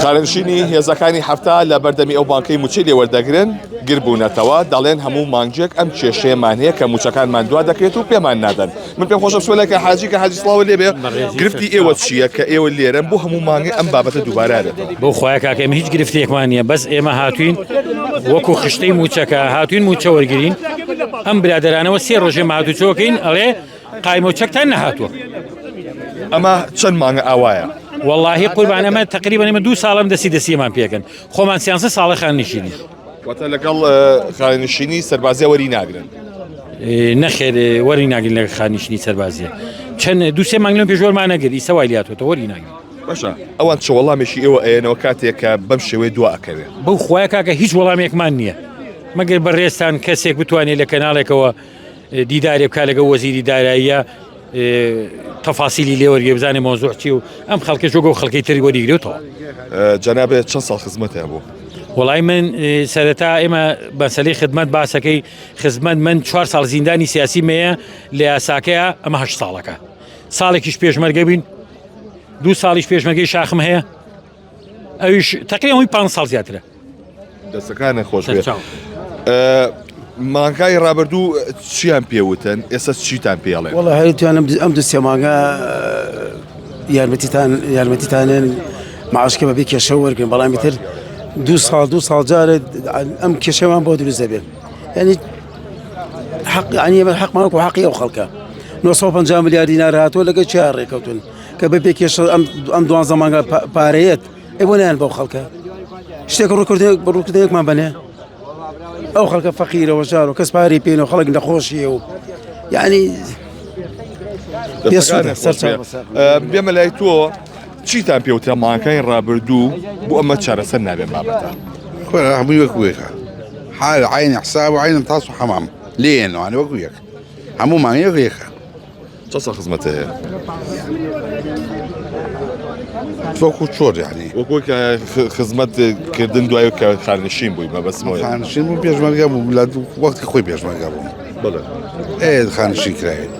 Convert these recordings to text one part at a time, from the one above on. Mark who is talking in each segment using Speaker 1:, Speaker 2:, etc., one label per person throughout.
Speaker 1: شارنشینی هێزەکانی حەفتا لە بەردەمی ئەو بانکەی موچەی لێ وەردەگرن گر بوونەتەوە دەڵێن هەموو مانگێک ئەم کێشەیەمان هەیە کە موچەکانمان دوا دەکرێت و پێمان نادەن من پێم خۆشە سوەلەکە حاجی کە حاجی سڵاوە لێ بێ گرفتی ئێوە چییە کە ئێوە لێرەن بۆ هەموو مانگی ئەم بابەتە دووبارارێت بۆ خخوای کاکەم هیچ
Speaker 2: گرفتێکمان نیە بەس ئێمە هاتوین وەکو خشتەی موچەکە هاتوین موچە وەرگین ئەم برادرانەوە سێ ڕۆژێ مادوچۆکەین ئەڵێ قایمە و چەکتان نەهاتووە
Speaker 1: ئەمە چەند مانگە ئاوایە واللهی قوربان
Speaker 2: ئەمە تقریبا ئمە دو ساڵم دەسی دەسیمان پێکەن خۆمان سیانسە ساڵە خان نشینی واتە لەگەڵ
Speaker 1: خانشینی سەربازی وەری ناگرن
Speaker 2: نەخێر وەری ناگرن لە خانیشنی سەربازیە چەند دوسێ مانگلم پێشۆرمان نەگر ئیسە وایلاتەوە وەری ناگرن باشە ئەوان
Speaker 1: چ وەڵامێکی ئێوە ئەیەنەوە کاتێکە بەم شێوەی دو ئەکەوێت بەو خخوای کاکە هیچ
Speaker 2: وەڵامێکمان نییە مەگەر بە ڕێستان کەسێک بتوانێت لە کەناڵێکەوە دیدارێ بکا لەگەڵ وەزیری داراییە تەفاسیلی لێ وەرگێ بزانێ مۆزوع چی و ئەم خەڵکە جۆگە و خەڵکی تری وەریگرێتەوە جەنابێت
Speaker 1: چەند ساڵ خزمەتیان بوو وڵی من
Speaker 2: سەرەتا ئێمە بەسەلی خدمەت باسەکەی خزمەت من چوار ساڵ زیندانی سیاسی مەیە لە یاساکەیە ئەمەهش ساڵەکە ساڵێکیش پێشمەرگە بین دوو ساڵیش پێشمەگەی شاخم هەیە ئەویش تەقی ئەوی پ ساڵ زیاترە دەستەکانە
Speaker 1: خۆش مانکای ڕابردوو چیان پێوتن ئێستا چیتان پێڵێ وڵە هەرتوانم ئەم
Speaker 3: دو سێ مانگە یارمەتیتان یارمەتیتانێن معشکە بەبی کێشە وەرگن بەڵامی تر دو ساڵ دو ساڵ جارێت ئەم کێشەوان بۆ دروست دەبێت ینی حق عنی من حق مالك وحقي او خلقه 950 ملیار دینار هاتووە لەگە چیا ڕێکەوتون کە بە پێ کێشە ئەم دوانزە مانگە پارەیەت ئێ بۆ نیان بەو خەڵکە شتێک ڕووکرد ڕووکردەیەکمان بەێ ئەو خەڵکە فەقیرەوە ژار و کەس پارەی پێێن و خەڵک نەخۆشیە و یعنی
Speaker 1: بێمە لای تۆ چیتان پێوتە ماکانی ڕابردوو بۆ ئەمە چارەسەر نابێن بابەتە خۆرا هەمووی
Speaker 4: وەکوێکە حال عین حساب و عین تاس و حەمام لێنوانە وەکو یەک هەموو مانگەیەک یەکە چە سە
Speaker 1: خزمەتە هەیە تۆکو
Speaker 4: چۆر یعنی وەکو خزمەت
Speaker 1: کردن دوای کە خانشین بووی بە بەسمەوە خانشین بوو پێشمەرگە
Speaker 4: بوو لە وەختی خۆی پێشمەرگە بووم بڵێ
Speaker 1: ئێ خانشین
Speaker 4: کرایت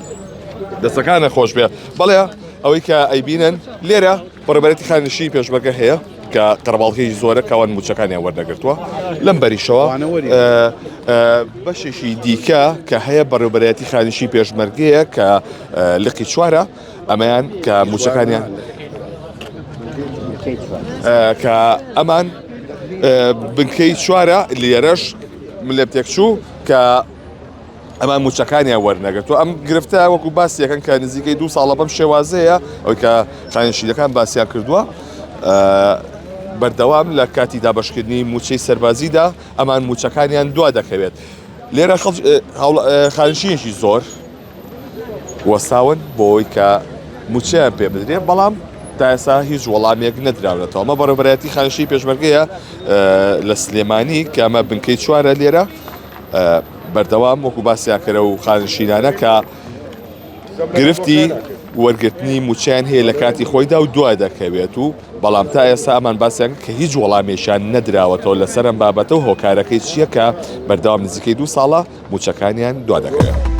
Speaker 4: دەستەکانە
Speaker 1: خۆش بێ بەڵێ ئەوەی کە ئەیبینن لێرە بەڕێوبەرێتی خانەنشینی پێشمەرگە هەیە کە قەرەباڵغیی زۆرە کەوان مووچەکانیان وەردەگرتووە لەم بەریشەوە بەشێکی دیکە کە هەیە بەڕێوبەرێتی خانیشی پێشمەرگەیە کە لقی چوارە ئەمەیان کە مووچەکانیان کە ئەمان بنکەی چوارە لێرەش لێ تێکچوو کە ئەمان موچەکانیان وەرنەگرتووە ئەم گرفتە وەکو باسیەکەن کە نزیکەی دوو ساڵە بەم شێوازەیە ئەوی کە خانشیلەکان باسییان کردووە بەردەوام لە کاتی دابشکردنی موچەی سەربازیدا ئەمان موچەکانیان دوا دەکەوێت لێرە خانشینێکی زۆر وەساون بۆی کە موچیان پێ بدرێت بەڵام تا ئێسا هیچ وەڵامێک نەدراونەتەوە ئەمە بەڕێبەتی خانشی پێشمەرگەیە لە سلێمانی کە ئەمە بنکەی چوارە لێرە بەردەوام وەکو باسیان کەرە و خانشینانە کە گرفتی وەرگرتنی موچیان هەیە لە کاتی خۆیدا و دوا دەکەوێت و بەڵام تا ئێستا ئەمان باسیان کە هیچ وەڵامێشان نەدراوەتەوە لەسەرم بابەتە و هۆکارەکەی چییە کە بەردەوام نزیکەی دوو ساڵە موچەکانیان دوا دەکەوێت.